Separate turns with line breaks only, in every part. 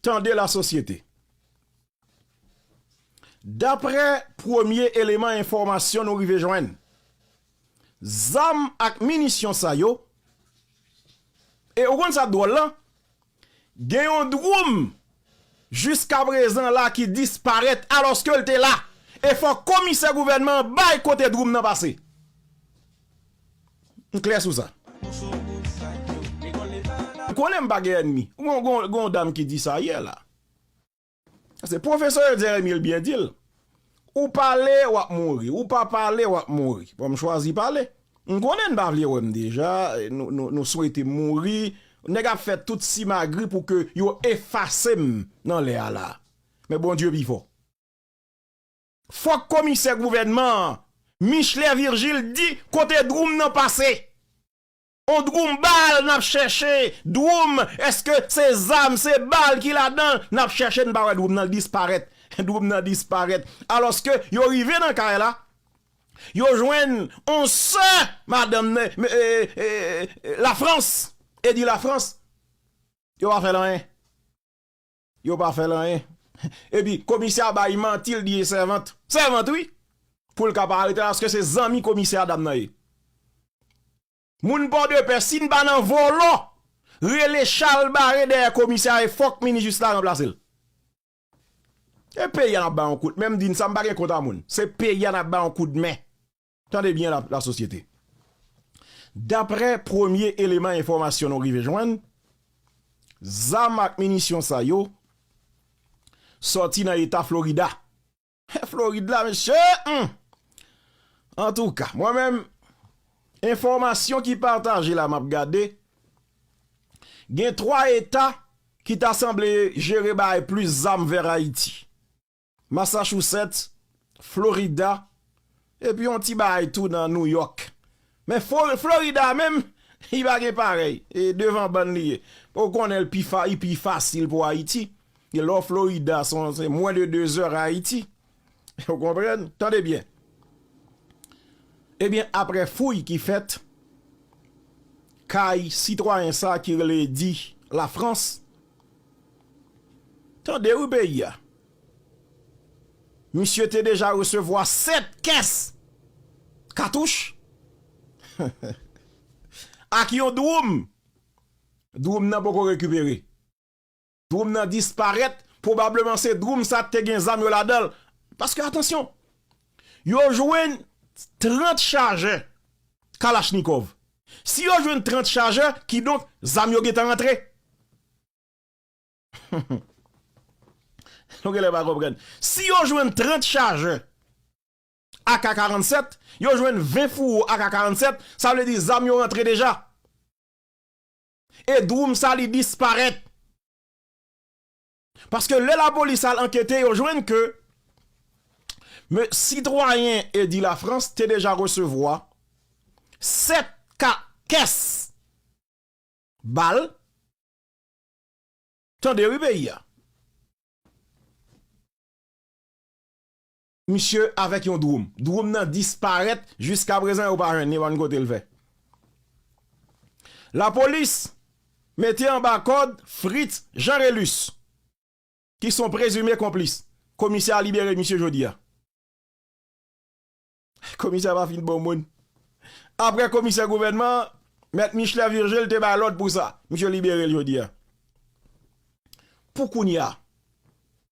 Tande la sosyete! Daprè premye eleman enfòmasyon nou rive jwenn, zam ak minisyon sa yo, e ou konn sa k dwòl lan, gen yon dwoum jiska prezan la ki disparèt alòske l te la, e fòk komisè gouvènman an bay kote dwoum nan pase. M klè sou sa. Ou konnen m pa gen ènmi. Gen yon dam ki di sa yè la. Se pwofesè yo di a Emile byen di l. Ou pale w ap mouri. Ou pa pale w ap mouri. Bon m chwazi pale. M konnen n pa vle wè m deja. Nou swete m mouri. Nèg ap fè tout simagri pou ke yo efase m nan lè a la. Men Bondye pi fò. Fòk komisè gouvènman an, Michelet Virgile di kote dwoum nan pase. On dwoum bal n ap chèche, dwoum èske se zam, se bal ki ladan l, n ap chèche n pa wè dwoum nan l disparèt. Dwoum nan disparèt. Alòske yo rive nan kay la, yo jwenn on sè madanm Lafrans, Eddy Lafrans, yo pa fè l anyen. Yo pa fèl anyen. Epi komisè a bay manti l di e sèvant. Sèvant wi. Pou l ka pa arete l aske se zanmi komisè a dam nan ye. Moun pòdepè si n pa nan vòlò rele chalbare dèyè komisè a e fòk minijis la ranplase l. E peyi a n ap bay yon kout men m di n sa m pa gen kont a moun. Se peyi a n ap bay yon kout men. Tande byen la lasosyete. Daprè premye eleman enfòmasyon nou rive jwenn, zam ak minisyon sa yo sòti nan eta Florida. He Florid la mesye! Humm! Antouka, mwen menm, enfòmasyon ki pataje la m ap gade, gen 3 eta ki ta sanble jere bay plis zam vè Ayiti. Massachusetts, Florida, epi yon ti baay tou nan New York. Men Florida a menm, li pa gen parèy. E devan bann li ye. Ou konnen l pi fa, li pi fasil pou Ayiti. Gen lè w Florida, se mwen de 2 zè Ayiti. Ou konprann? Tande byen. Ebyen aprè fouy ki fèt, kay sitwayen sa ki rele di Lafrans. Tande wi peyi a. Misye te deja resevwa 7 kès katouch ak yon dwoum. Dwoum nan poko rekipere. Dwoum nan disparèt, pwobableman se dwoum sa te gen zam yo ladan l. Paske atansyon, yo jwenn 30 chajè kalachnikòv. Si yo jwenn 30 chajè, kidonk zam yo gentan antre. Nou genlè pa konprann. Si yo jwenn 30 chajè ak 47, yo jwenn 20 fouwo ak 47, sa vle di zam yo rantre deja. E Dwoum Sali disparèt. Paske lè lapolis al ankete yo jwenn ke Me sitwayen Eddy Lafrance te deja resevwa 7 ka kès bal tande wi peyi a. misye avèk yon dwoum. Dwoum nan disparèt, jiskaprezan yo pa jwenn li, yo pa konn kote l fè. Lapolis mete anba kòd Fritz Jean Relus ki s on prezime konplis. Komisè a libere misye jodi a. Komisè a pa fin bon moun. Aprè komisè gouvènman an, Mèt Michelet Virgile te bay lòd pou sa. Misye libere l jodi a. Pou kounye a.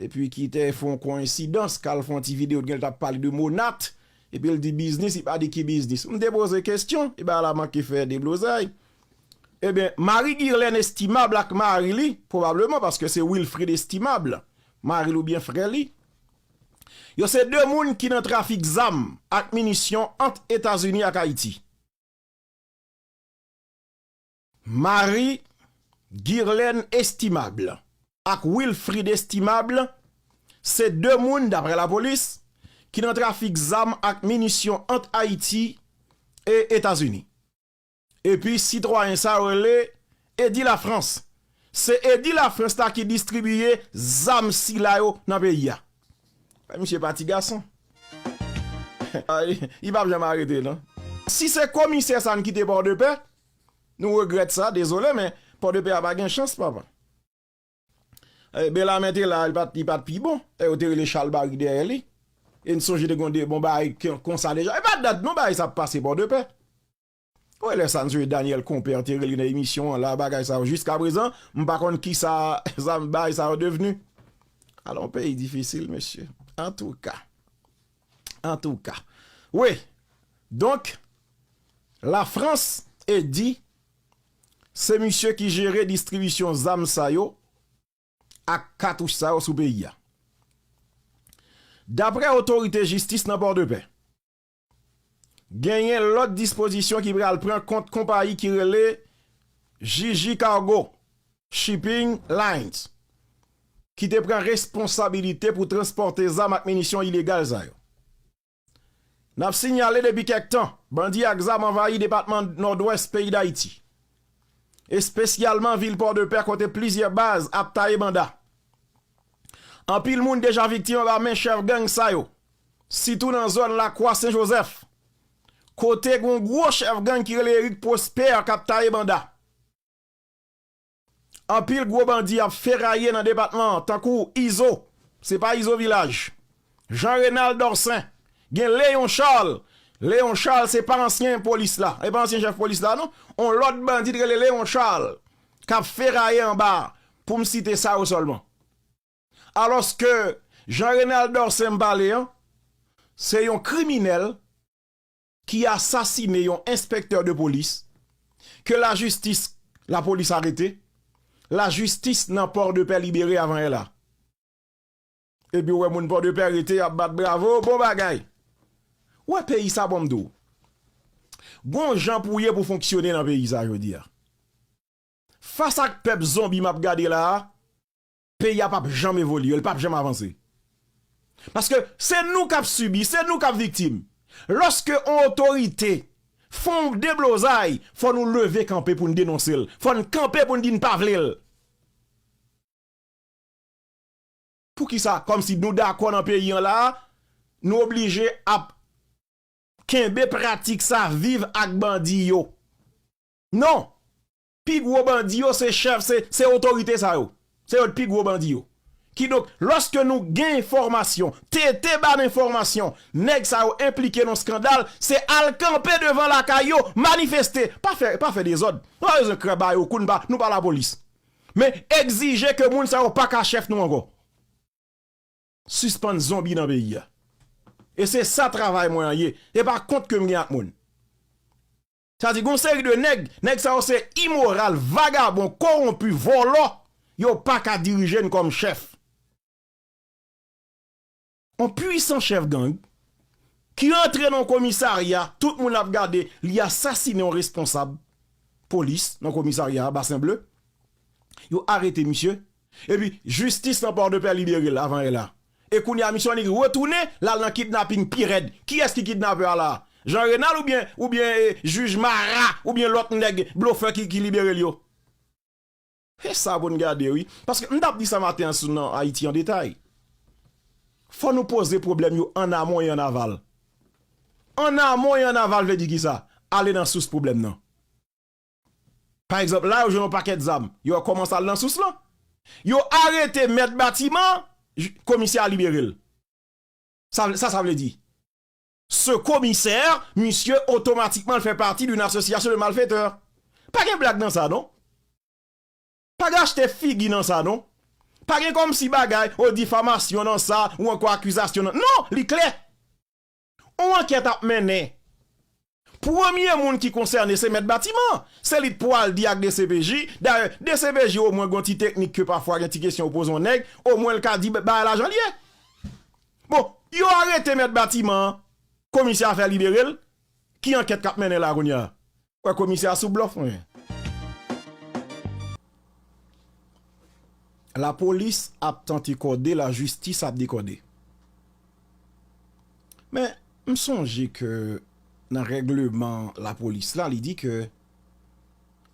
Epi ki te fon koensidans kal fon ti video t genlh tap pale de monat epil di biznis li pa di ki biznis m te poze kesyon e bagay la manke fè deblozay ebyen mari Guirlène Estimable ak mari li pwobableman paske se Wilfrid Estimable maril oubyen frè li yo se 2 moun ki nan trafik zam ak minisyon ant etazini ak ayiti. Marie Guirlène Estimable ak Wilfrid Estimable se 2 moun, daprè lapolis, ki nan trafik zam ak minisyon ant Ayiti e Etazini. Epi sitwayen sa yo rele Eddy Lafrance. Se Eddy Lafrance la ki distribiye zam sila yo nan peyi a. Ay misye pa ti gason. Ay, li pap janm arete non. Si se komisè sa n kite Pòdepè, Nou regrèt sa, dezole men Pòdepè a pa gen chans papa. Bellarmé te la, li pat pi bon. E yo te rele chalbari dèyè li. E n sonje te gen yon bon bagay konsa deja. E pa dat non bagay sa ap pase Pòdepè. Ou wè lè sa n sonje Daniel Compère te rele nan emisyon an la bagay sa yo jiskaprezan m pa konn kisa bagay sa yo devni. Ala yon peyi difisil mesye. Antouka. Antouka wi donk la frans e di se misye ki jere distribisyon zam sa yo ak katouch sa yo sou peyi a. Daprè otorite jistis nan Pòdepè genyen lòt dispozisyon ki pral pran kont konpayi ki rele Jiji Cargo Shipping Lines ki te pran responsabilite pou transpòte zam ak minisyon ilegal sa yo. N ap sinyale depi kèk tan, bandi ak zam anvayi depatman Nòdwès peyi Dayiti, espesyalman vil Pòdepè kote plizyè baz ap taye banda. Anpil moun deja viktim anba men chèf gang sa yo, sitou nan zòn Lakwa Sen Jozèf, kote gen yon gwo chèf gang ki rele Eric Prosper k ap taye banda. Anpil gwo bandi ap feraye nan depatman an tankou Izo, se pa Izo Vilaj, Jean Renald Dorcin, gen Léon Charles, Léon Charles se pa ansyen polis la, se pa ansyen chèf polis la non, on lòt bandi ki rele Léon Charles k ap feraye anba a, pou m site sa yo sèlman. Alòske Jean Renald Dorcin m pale an, se yon kriminèl ki asasine yon enspektè de polis ke lajistis lapolis arete, lajistis nan Pòdepè libere avan ela. Epi ou wè moun Pòdepè rete y ap bat bravo, bon bagay! Ou wè peyi sa bon m di w, gon jan pou w ye pou w fonksyone nan peyi sa jodi a. Fas ak pèp zonbi m ap gade la a, peyi a pap janm evolye, li pap janm avanse. Paske se nou k ap sibi, se nou k ap viktim. Lòske yon otorite fè yon deblozay, fò nou leve kanpe pou n denonse l, fò n kanpe pou n di n pa vle l. Poukisa kòmsi nou dakò nan peyi an la a, nou oblije ap kenbe pratik sa, viv ak bandi yo? Non! Pi gwo bandi yo se chèf, se otorite sa yo. Se yo t pi gwo bandi yo. Kidonk, lòske nou gen enfòmasyon, TT ba n enfòmasyon, nèg sa yo enplike nan skandal, se al kanpe devan lakay yo, manifeste. Pa fè, pa fè dezòd. Nou pa bezwen krè ba yo kou, nou pa lapolis. Men, egzije ke moun sa yo pa ka chèf nou ankò. Sispann zonbi nan peyi a. E se sa travay mwen an ye. E pa kont ke m gen ak moun. Sa di gon seri de nèg, nèg sa yo se imoral, vagabon, kowonpi, vòlò, yo pa ka dirije n kòm chèf. On pwisan chèf gang ki antre nan on komisarya, tout moun ap gade, li asasinen on responsab polis nan komisarya a, Basen Ble, yo arete misye, Epi jistis nan pòdepè liberel avan e la e kounya misye annik retounen lal nan kidnaping pi rèd kiyès ki kidnapè a la jean renal oubyen oubyen e jij mara oubyen lòt nèg blofè ki ki liberel yo se sa poun gade wi paske mtap di sa maten an sou nan ayiti an detay fò nou poze problèm yo an amon e an aval an amon e an aval vle di kisa ale nan sous problèm nan. Pa egzanp, la yo jwenn yon pakèt zam. Yo wè kòman sa al nan sous lan. Yo arete mèt batiman an, komisè a libere l. Sa sa sa vle di? Ce commissaire, misye otomatikman l fè pati d'une association de malfaiteurs. Pa gen blag nan sa non. Pa gen achte figi nan sa non. Pa gen kòmsi bagay, o difamasyon nan sa ou ankò akizasyon nan. Non! Li klè. On ankèt ap mennen. Premye moun ki konsène se mèt batiman. Se li t pwal di ak dcpj. Dayè, dcpj omwen gon ti teknik ke pafwa gen ti kesyon ou poze on nèg, omwen l ka di bagay la jan l ye. Bon, yo arete mèt batiman an, komisè a fè libere l, ki ankèt k ap mennen la kounya? Wè komisè a sou blòf mwen. La polis ap tante kòde la jistis ap dekòde. Men, m sonje ke nan règleman la polis la, li di ke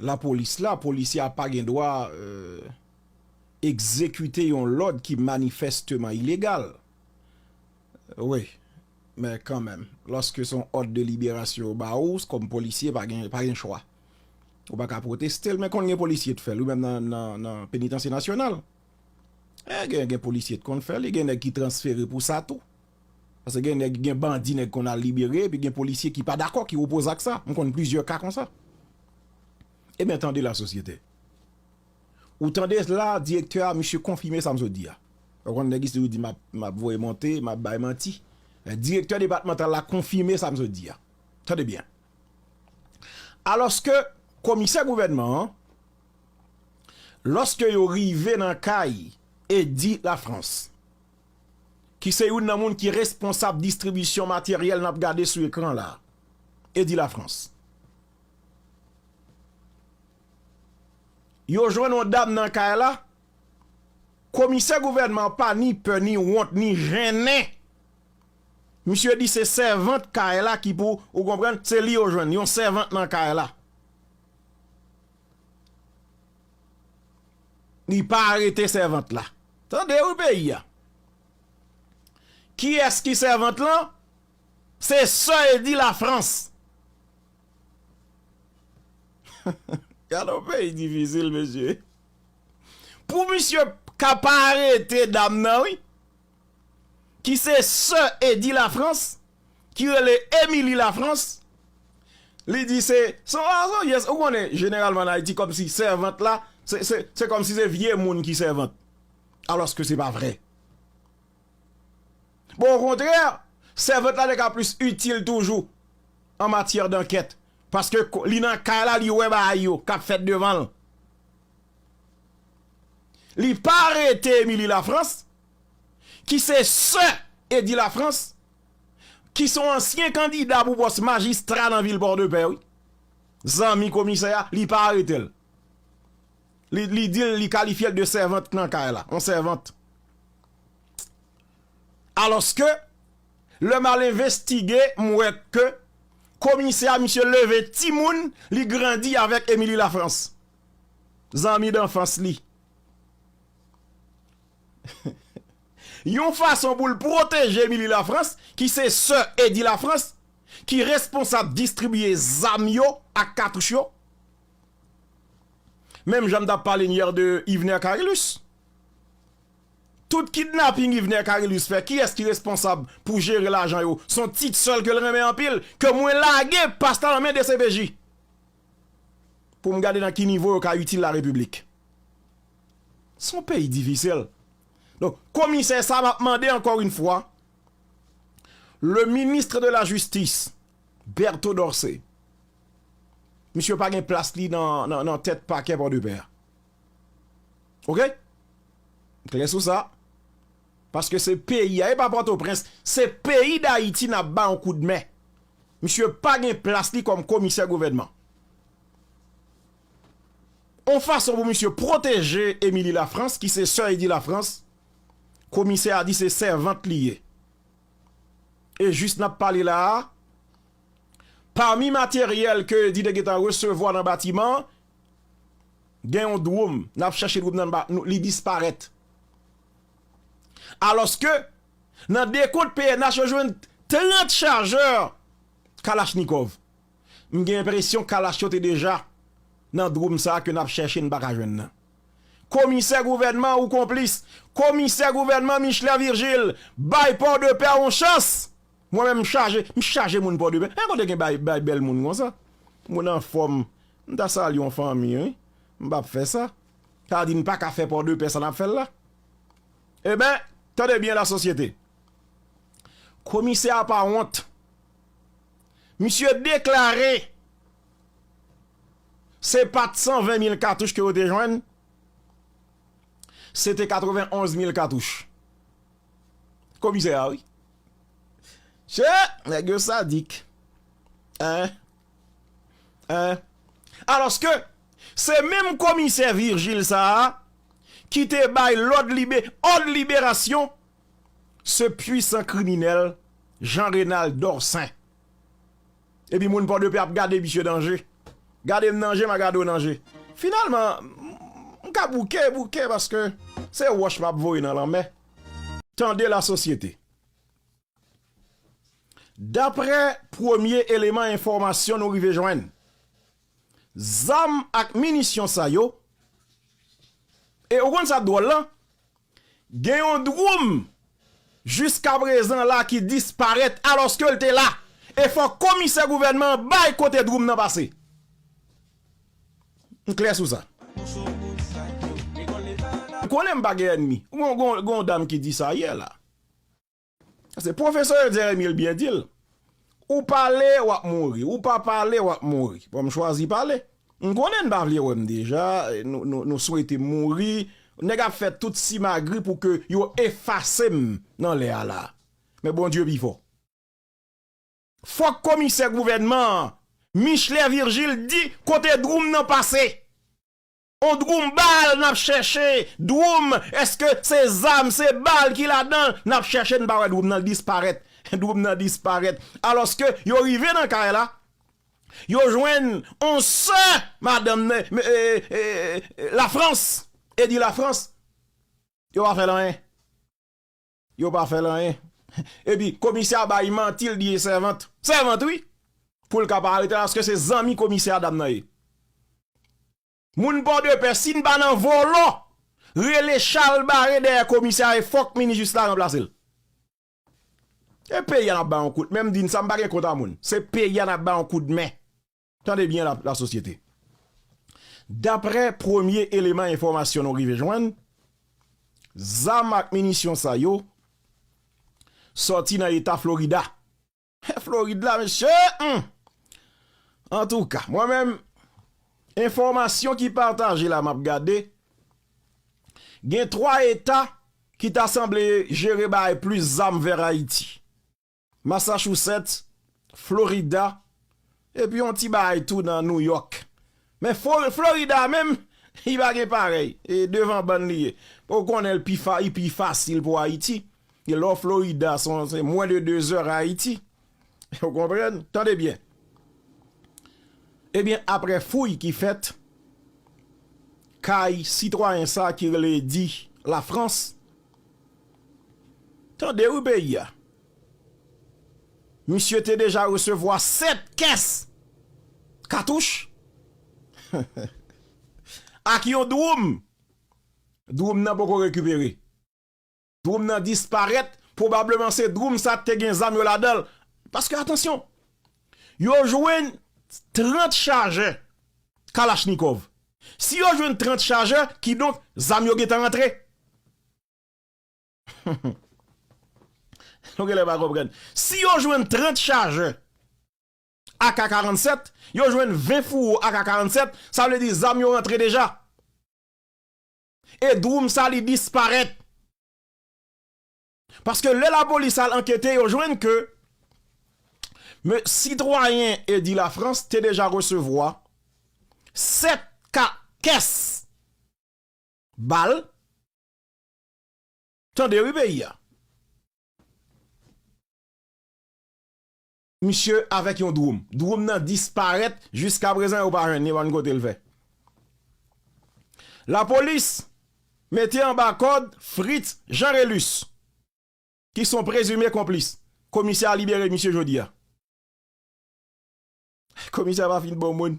la polis la, polisye a pa gen dwa egzekite yon lòd ki manifèsteman ilegal. Wi. Men kanmenm, lòske se yon òd de liberasyon yo ba ou, kòm polisye, pa gen, pa gen chwa. Ou pa ka pwoteste l, men konn gen polisye t fè l wi, menm nan Penitansye Nasyonal. E gen, gen polisye t konn fè l, e gen nèg ki transfere pou sa tou. Paske gen nèg, gen bandi nèg konn al libere, epi gen polisye ki pa dakò, ki opoze ak sa. M konn plizyè ka konsa. Ebyen tande lasosyete. Ou tande la direktè a misye konfime sa m sot di a. Ou konn nèg isi toujou di m ap voye monte, m ap bay manti. Direktè depatmantal la konfime sa m sot di a. Tande byen. Alòske komisè gouvènman an, lòske yo rive nan kay Eddy Lafrance, ki se youn nan moun ki responsab distribisyon materyèl n ap gade sou ekran la, Eddy Lafrance, Yo jwenn yon dam nan kay la, komisè gouvènman an pa ni pè, ni wont, ni jennen. Misye di se sèvant kay la ki pou, ou konprann, se li yo jwenn, yon sèvant nan kay la. Li pa arete sèvant la. Tande wi peyi a. Kiyès ki sèvant lan? Se sè Edy Lafrance. Gade yon peyi difisil mesye. Pou misye ka pa arete dam nan wi ki se sè Eddy Lafrance ki rele Emily Lafrance li di se son gason yes ou konnen jeneralman an Ayiti kòmsi sèvant la se kòmsi se vye moun ki sèvant alòske se pa vre. Bon okontrè, sèvant la te ka plis itil toujou an matyè dankèt, paske li nan kay la li wè bagay yo k ap fèt devan l. Li pa arete Émilie Lafrance, ki se sè Eddy Lafrance, ki se yon ansyen kandida pou pòs majistra nan vil Pòdepè wi, zanmi komisè a, li pa arete l. Li di l, li kalifye l de sèvant nan kay la, yon sèvant. Alòske, lè m al envestige, m wè ke komisè a, misye leve timoun, li grandi avèk Émilie Lafrance, zanmi danfans li. Yon fason pou l pwoteje Émilie Lafrance, ki se sè Eddy Lafrance, ki responsab distribiye zam yo ak katouch yo. Menm jan m tap pale n hier de Yvener Carillus. Tout kidnapping Yvener Carillus fè kiyès ki responsab pou jere lajan yo? Son tit sèl ke l renmen anpil ke mwen lage pasta nan men dcpj pou m gade nan ki nivo yo ka itil la repiblik. Son peyi difisil. Donk komisè sa map mande ankò yn fwa le ministre de la justice Bertho Dorcé Misye pa gen plas li nan tèt pakè pòdepè a ok m klè sou sa paske se peyi a e pa pòtoprens se peyi dayiti nap bay yon kout men misye pa gen plas li kòm komisè gouvènman yon fason pou misye pwoteje emili lafrans ki se sè edi lafrans komisè a di se sèvant li ye e jis nap pale la a. Pami materyèl ke di te gentan resevwa nan batiman an, gen yon dwom. N ap chèche dwom nan, li disparèt. Alòske, nan dekont pnh yo jwenn 30 chajè kalachnikòv. M gen enpresyon kalach yo te deja nan dwom sa ke n ap chèche n pa ka jwenn nan. Komisè gouvènman ou konplis. Komisè gouvènman Michelet Virgile, bay Pòdepè yon chans Mwen menm m chaje, m chaje moun pòdepè, men kote gen bay bay bèl moun konsa? Moun anfòm, m ta salye yon fanmi wi, m pap fè sa. Sa di n pa ka fè pòdepè sa n ap fè l la? Eben, tande byen lasosyete, komisè a pa wont, misye deklare se pat 120 mil katouch ke yo te jwenn, se te 91 mil katouch. Komisè a wi. Che! Nèg yo sadik. Hein? Hein? Alòske, se menm komisè Virgile sa a ki te bay lòd libe, òd liberasyon se pwisan kriminèl Jean Renald Dorcin. Epi moun pòdepè ap gade misye nan je. Gade m nan je, m a gade w nan je. Finalman, m ka bouke, bouke paske se wòch m ap voye nan lanmè. Tande lasosyete. Daprè premye eleman enfòmasyon nou rive jwenn, zam ak minisyon sa yo, e ou konn sa k dwòl lan? Gen yon dwoum jiskaprezan la ki disparèt alòske l te la e fòk komisè gouvènman an bay kote dwoum nan pase. M klè sou sa. Ou konnen m pa gen ènmi. Gen yon dam ki di sa yè la. Se pwofesè yo di Emil byen di l, Ou pale, w ap mouri. Ou pa pale, w ap mouri. Bon, m chwazi pale. M konnen n pa vle wè m deja, nou swete m mouri. Nèg ap fè tout simagri pou ke yo efase m nan lè a la a. Men Bondye pi fò. Fòk komisè gouvènman an, Michelet Virgile di kote dwou m nan pase. On drum bal nap chèche drum eske se zam se bal ki ladanl nap chèche n pa wè drum nan l disparèt drum nan disparèt alòske yo rive nan kay la yo jwenn on sè madanm nan lafrans e di lafrans yo pa fè l anyen. Yo pa fèl anyen. Epi komisè a bay manti l di e sèvant. Sèvant wi! Pou l ka pa arete l aske se zanmi komisè a dam nan ye. Moun pòdepè si n pa nan vòlò rele chalbare dèyè komisè a e fòk minijis la ranplase l. E peyi a n ap ba yon kout men m di n sa m pa gen kont a moun. Se peyi a n ap ba yon kout men. Tande byen la lasosyete. Daprè premye eleman enfòmasyon nou rive jwenn, zam ak minisyon sa yo sòti nan eta Florida. He Florid la mesye! Humm! Antouka, mwen menm, enfòmasyon ki pataje la m ap gade, gen 3 eta ki ta sanble jere bay plis zam vè Ayiti. Massachusetts, Florida, epi yon ti bagay tou nan New York. Men Florida a menm, li pa gen parèy. E devan bann li ye. Ou konnen l pi fa, li pi fasil pou Ayiti. E lè w Florida, se mwen de 2 zè Ayiti. Ou konprann? Tande byen. Ebyen, apre fouy ki fèt, kay sitwayen sa ki rele Eddy Lafrance, Tande wi peyi a. Misye te deja resevwa 7 kès katouch ak yon dwoum. Dwoum nan poko rekipere. Dwoum nan disparèt, pwobableman se dwoum sa te gen zam yo ladan l. Paske atansyon, yo jwenn 30 chajè kalachnikòv. Si yo jwenn 30 chajè, kidonk zam yo gentan antre. Nou genlè pa konprann. Si yo jwenn 30 chajè ak 47, yo jwenn 20 fouwo ak 47, sa vle di zam yo rantre deja. E dwoum sa li disparèt. Paske lè lapolis al ankete yo jwenn ke me sitwayen Eddy Lafrance te deja resevwa 7 ka kès bal. Tande wi peyi a. Misye avèk yon dwom. Dwom nan disparèt jiskaprezan yo pa jwenn li, pa konn kote l fè. Lapolis mete anba kòd Fritz Jean Relus ki son prezime konplis. Komisè a libere misye jodi a. Komisè pa fin bon moun.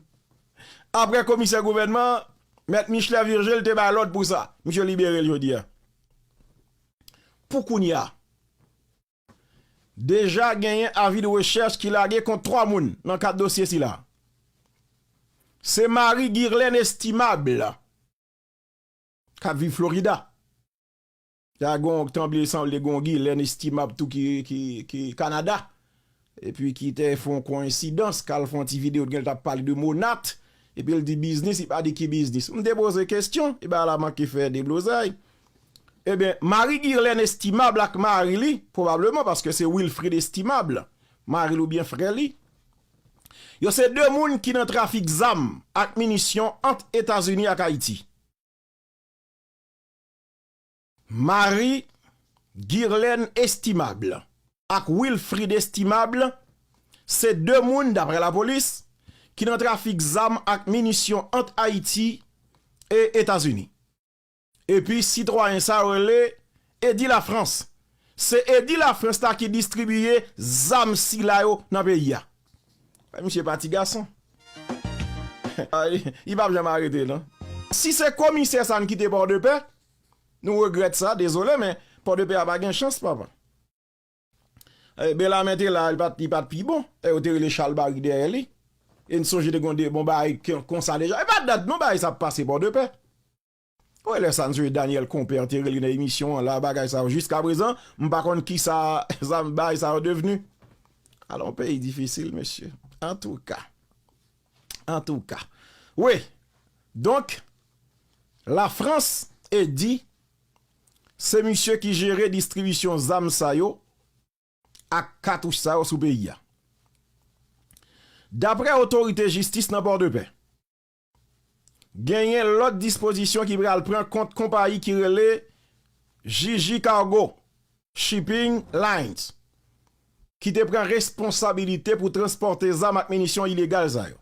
Aprè komisè gouvènman an, Mèt Michelet Virgile te bay lòd pou sa. Misye libere l jodi a. Pou kounye a, deja genyen avi de rechèch ki lage kont 3 moun nan kad dosye sila. Se Marie Guirlène Estimable, k ap viv Florida. Ta gon tanble sanble gon Guylaine Estimable tou ki Canada epi ki te fon koensidans kal fon ti video t genlh tap pale de Monat epil di biznis li pa di ki biznis m te poze kesyon e bagay la manke fè deblozay ebyen mari Guylaine Estimable ak mari li pwobableman paske se Wilfrid Estimable mari li oubyen frè li yo se 2 moun ki nan trafik zam ak minisyon ant Etazini ak Ayiti. Marie Guirlène Estimable ak Wilfrid Estimable se 2 moun, daprè lapolis, ki nan trafik zam ak minisyon ant Ayiti e Etazini. Epi sitwayen sa yo rele Eddy Lafrance. Se Eddy Lafrance la ki distribiye zam sila yo nan peyi a. Misye pa ti gason. Li pap janm arete non. Si se komisè sa n kite pòdepè nou regrèt sa dezole men pòdepè a pa gen chans papa belame te la li pat pi bon e yo te rele chalbari dèyè li e n sonje te gen yon bon bagay konsa deja e pa dat non bagay sa ap pase pòdepè. Ou wè lè sa msye Daniel Compère te rele nan emisyon an la bagay sa yo jiskaprezan m pa konn kisa zam bay sa yo devni alon peyi difisil mesye antouka antouka wi donk la frans e di se misye ki jere distribisyon zam sa yo ak katouch sa yo sou peyi a daprè otorite jistis nan pòdepè. genyen lòt dispozisyon ki pral pran kont konpayi ki rele Jiji Cargo Shipping Lines ki te pran responsabilite pou transpòte zam ak minisyon ilegal sa yo.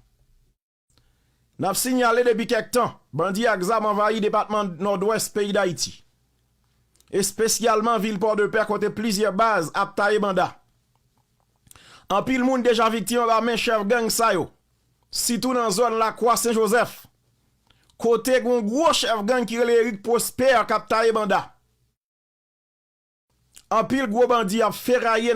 N ap sinyale depi kèk tan, bandi ak zam anvayi depatman Nòdwès peyi Dayiti, espesyalman vil Pòdepè kote plizyè baz ap taye banda. Anpil moun deja viktim anba men chèf gang sa yo. sitou nan zòn Lakwa Sen Jozèf, kote gen yon gwo chèf gang ki rele Eric Prosper k ap taye banda. Anpil gwo bandi ap feraye